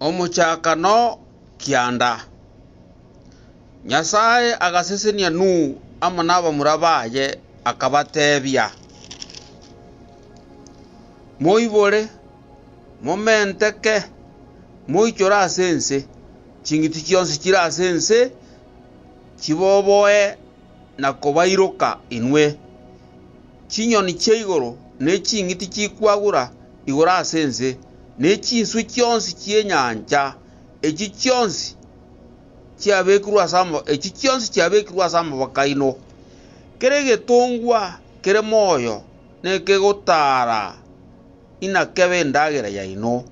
Omochakano kianda, Nyasae agasesenia Nuhu amo nabamura baye, akabatebia, Moibore, momenteke, moichore ase ense, ching'iti chionsi chire ase ense chiboboe na kobairoka inwe. Chinyoni chia igoro ne ching'iti chikwagura igoro ase ense, ne chinswe chionsi chi'enyancha, echi chionsi chiabekirwe ase ama, echi chionsi chiabekirwe ase amaboko aino. Kera egetongwa kere moyo nekegotaara inakebe endagera yaino,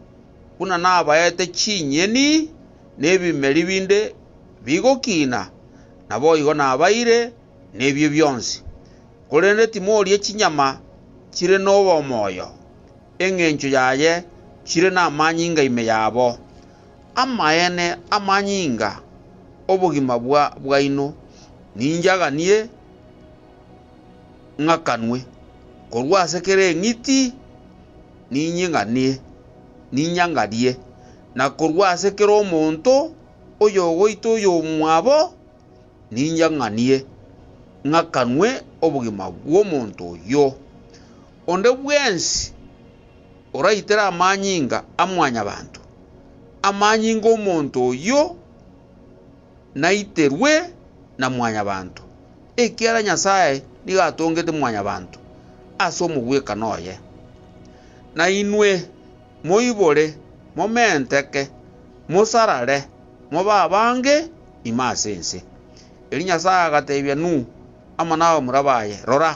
buna nabaete chinyeni ne ebimeri binde bigokina, naboigo nabaire nebio bionsi. Korende timorie chinyama chire nobomoyo, engencho yaye chire namanyinga ime yabo. Amaene amanyinga obogima bwaino ninche aganie ng'akanwe, korwa ase kera eng'iti ninying'anie, ninyangarie, na korwa ase kera omonto oyogoita oyomwabo. ninche ng'anie, ng'akanwe obogima bw'omonto oyio. Onde bwensi oraitere amanyinga a Mwanyabaanto, amanyinga 'omonto oyio naiterwe na Mwanyabaanto, ekiagera Nyasae nigo atongete Mwanyabaanto ase omogwekano oye. Na inwe moibore, momenteke, mosarare, mobe abange, ime ase ense. Erio Nyasae agateebia Nuhu amo n'abamura baye, Rora,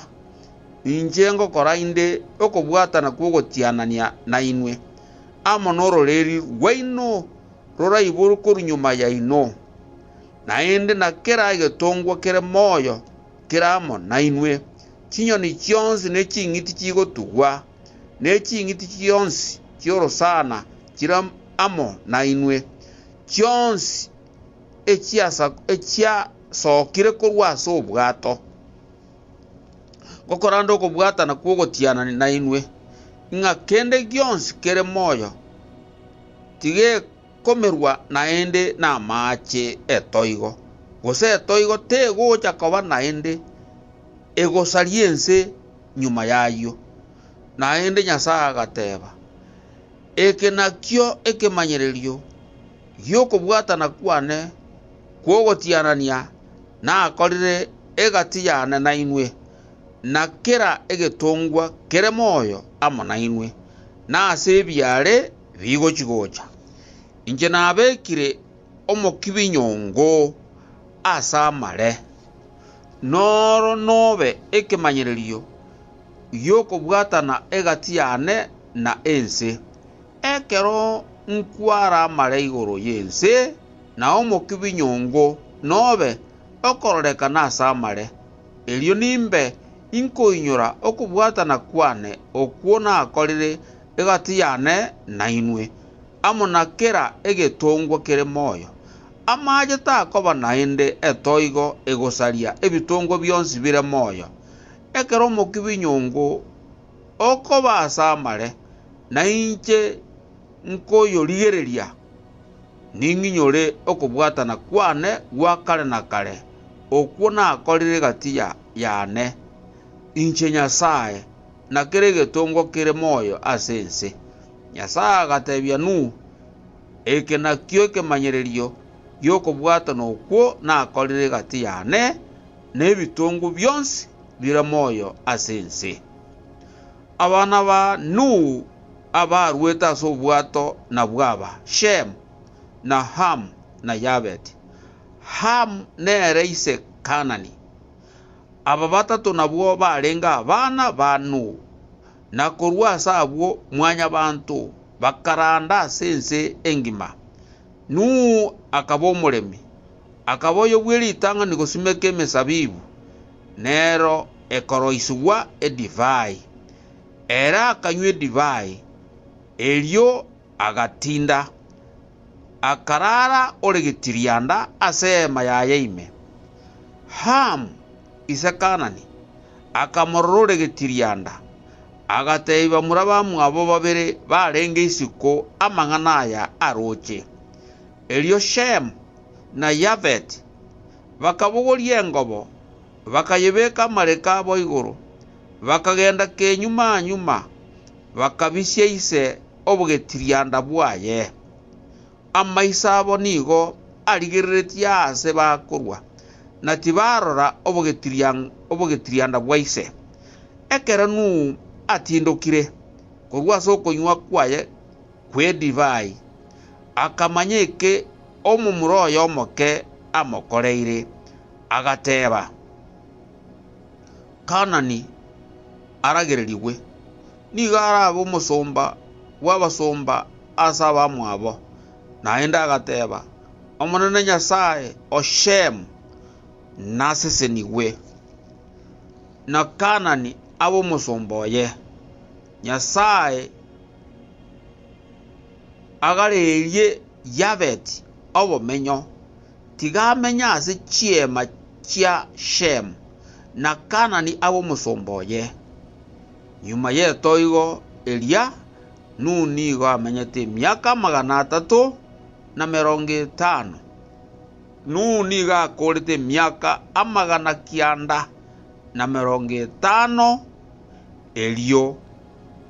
inche ngokora inde okobwatana kw'ogotianania nainwe, amo n'ororeeri rwaino roraiborwe korwa nyuma yaino, naende na kera egetongwa kere moyo kere amo nainwe, chinyoni chionsi ne ching'iti chigotugwa, ne ching'iti chionsi chi'orosana chire amo nainwe, chionsi echiasokire korwa ase obwato, ngokoranda okobwatana kw'ogotiana nainwe, ng'a kende gionsi kere moyo tigekomerwa naende namaache etoigo, gose etoigo tegocha koba naende egosaria ense nyuma y'ayio. Naende Nyasae agateba. Eke nakio ekemanyererio gi'okobwatana kwane kw'ogotianania nakorire egati yane nainwe, na kera egetongwa kere moyo amo nainwe, na ase ebiaare bigochi-gocha. Inche nabekire omokibi nyongo ase amare, na oro nobe ekemanyererio. y'okobwatana egati yane na ense. Ekero nkwaramare igoro y'ense, na omokia bw'inyongo nobe okororekana ase amare, erio nimbe inkoinyora okobwatana kwane okwo nakorire egati yane nainwe, amo na kera egetongwa kere moyo. Amaache takoba naende etoigo egosaria ebitongwa bionsi bire moyo, Ekero omokibi nyongo okoba ase amare, na inche nkoyorigereria, ning'inyore okobwatana kwane gwa kare na kare, okwo nakorire gatiya yane, inche Nyasae, na kera egetongwa kere moyo ase ense. Nyasae agatebia Nuhu, Eke nakio ekemanyererio gi'okobwatana okwo nakorire gati yane, nebitongo bionsi bire moyo ase ense. Abana ba Nuhu abaruete ase obwato nabwo aba, Shemu, na Hamu, na Yabeti. Hamu nere ise Kanani. Aba batato nabwo barenge abana ba Nuhu, na korwa ase abwo Mwanyabaanto bakaranda ase ense engima. Nuhu akaba omoremi. Akaba oyobue ritang'ani gosimeka emesabibu, nero ekoroisigwa edivai. Ere akanywa edivai, erio agatinda, akarara ore getirianda ase eema yaye ime. Hamu, ise Kanani, akamorora ore getirianda, agateebia bamura bamwabo babere barenge isiko amang'ana aya aroche. Erio Shemu na Yafeti bakabogoria engobo, bakayebeka amariko abo igoro, bakagenda kenyuma-nyuma, bakabisia ise obogetirianda bwaye. Amaiso abo nigo arigereretie aase bakorwa, na tibarora obogetirianda bwa ise. Ekero Nuhu atindokire korwa ase okonywa kwaye kw'edivai, akamanya eke omomura oye omoke amokoreire, agateeba, Kanani aragererigwe, nigo arabe omosomba bw'abasomba ase abamwabo. Naende agateeba, Omonene Nyasae o Shem, nasesenigwe, na Kanani abe omosomba oye. Nyasae agarerie Yabet obomenyo, tiga amenye ase chiema chia Shem na Kanani abe omosomba oye. Nyuma y'etoigo eria, Nuhu nigo amenyete emiaka amagana atato na emerongo etano. Nuhu nigo akoorete emiaka amagana kianda na emerongo etano erio.